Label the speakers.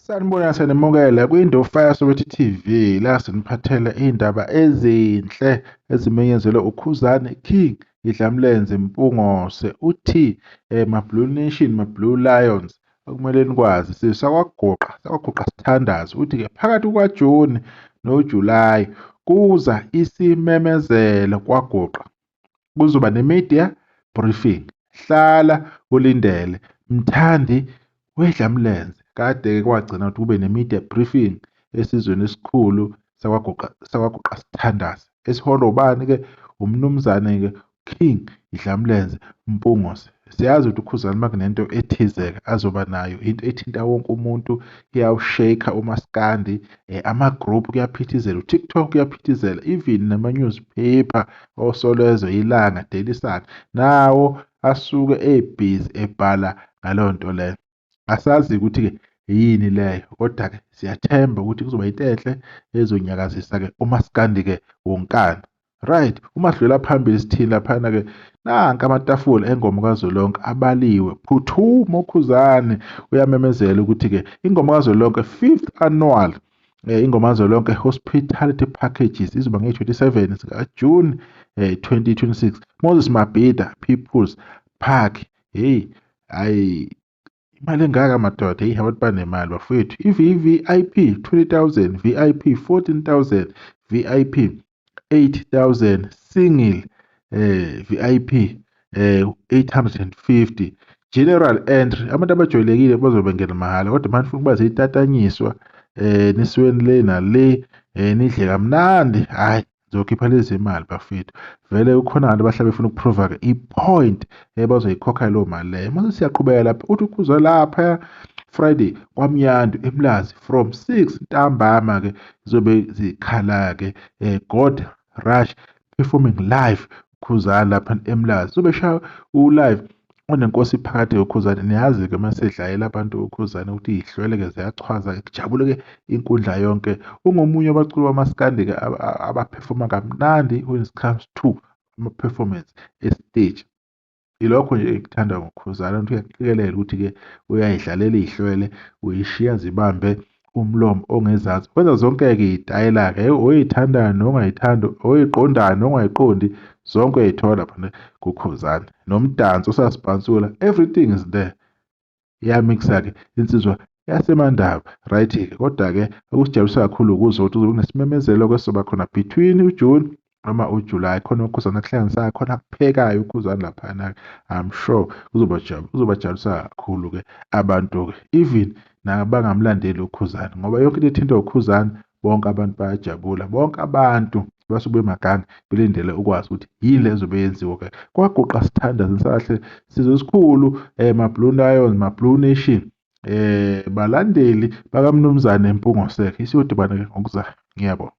Speaker 1: Sanibona siyanimukela kwiNdo Fire Soweto TV la siniphathela iy'ndaba ezinhle ezimenyezelwe uKhuzani King iDlamlenze Mpungose uthi eh, maBlue Nation maBlue Lions okumele nikwazi sisakwagoqa sakwagoqa sithandazi uthi-ke phakathi kukaJuni noJulayi kuza isimemezelo kwagoqa kuzoba ne-media briefing hlala ulindele mthandi wedlamlenze kade-ke kwagcina ukuthi kube ne-media briefing esizweni esikhulu sakwaguqa sithandaze esiholwa ubani-ke umnumzane-ke king idlamlenze mpungose Siyazi ukuthi uKhuzani uma kunento ethizeke azoba nayo into ethinta wonke umuntu iyawusheka umaskandi um eh, ama-group kuyaphithizela utiktok kuyaphithizela even nama-newspaper osolezwe ilanga daily sun nawo asuke ebhizi ebhala ngaleyo nto leyo Asazi ukuthi-ke yini leyo kodwa-ke siyathemba ukuthi kuzoba into enhle ezonyakazisa-ke umasikandi-ke wonkana. Right, uma sidlula phambili sithini laphana-ke nanka amatafula engoma kazwelonke abaliwe. Phuthuma uKhuzani uyamemezela ukuthi-ke ingoma kazwelonke fifth annual eh, ingoma kazwelonke hospitality packages izoba nge-27 sikajuni eh, 2026 moses mabhida peoples park heyi hayi imali engaka madoda eyi abantu banemali bafowethu i-vvip 20000 vip 14000 vip 8000 single eh vip eh 850 general entry abantu abajwayelekile bazobe bengena mahhala kodwa manje ufuna ukuba zitatanyiswa eh nisweni le nale eh nidle kamnandi hayi Zokhipha lezi imali bafethu. Vele ukhona abantu abahlala befuna ukuprova-ke i-point ebazoyikhokha leyo mali leyo. Mase siyaqhubeka lapha uthi ukhuzwa lapha Friday kwaMnyandu eMlazi from 6 ntambama-ke zizobe zikhala-ke um God Rush performing live Khuzani lapha eMlazi sobeshaya u-live onenkosi phakathi yokhuzane niyazi-ke uma sedlayela abantu ukhuzane ukuthi yihlwele-ke ziyachwaza kujabule-ke inkundla yonke ungomunye wabaculi bamasikandi-ke abaphefoma kamnandi when it comes to ama-performance esiteji Ilokho nje ekuthandayo ngoKhuzani ukuthi uyakuqikelela ukuthi-ke uyayidlalela ihlwele, uyishiya zibambe umlomo ongezansi. Wenza zonke-ke iy'tayela-ke oyithandayo nongayithandi, oyiqondayo nongayiqondi, zonke uyayithola phana kuKhuzani. Nomdanso usasibhansula, everything is there. iyamikisa-ke insizwa yasemandaba right-ke kodwa-ke okusijabulisa kakhulu ukuze ukuthi kunesimemezelo-ke soba khona between ujune noma ujulayi khona ukhuzana kuhlanganisayo khona kuphekayo ukhuzana laphana-ke i'm sure kuzobajabulisa kakhulu-ke abantu-ke even nabangamlandeli ukhuzana ngoba yonke into ethintwa ukhuzana bonke abantu bayajabula bonke abantu abasuke bemaganga belindele ukwazi ukuthi yini le ezobe yenziwa ke kwaguqa sithandaza ngisahle sizwe esikhulu um eh, mablue lions mablue nation eh balandeli bakamnumzane Mpungo Sek isiyodibana ke ngokuzayo ngiyabonga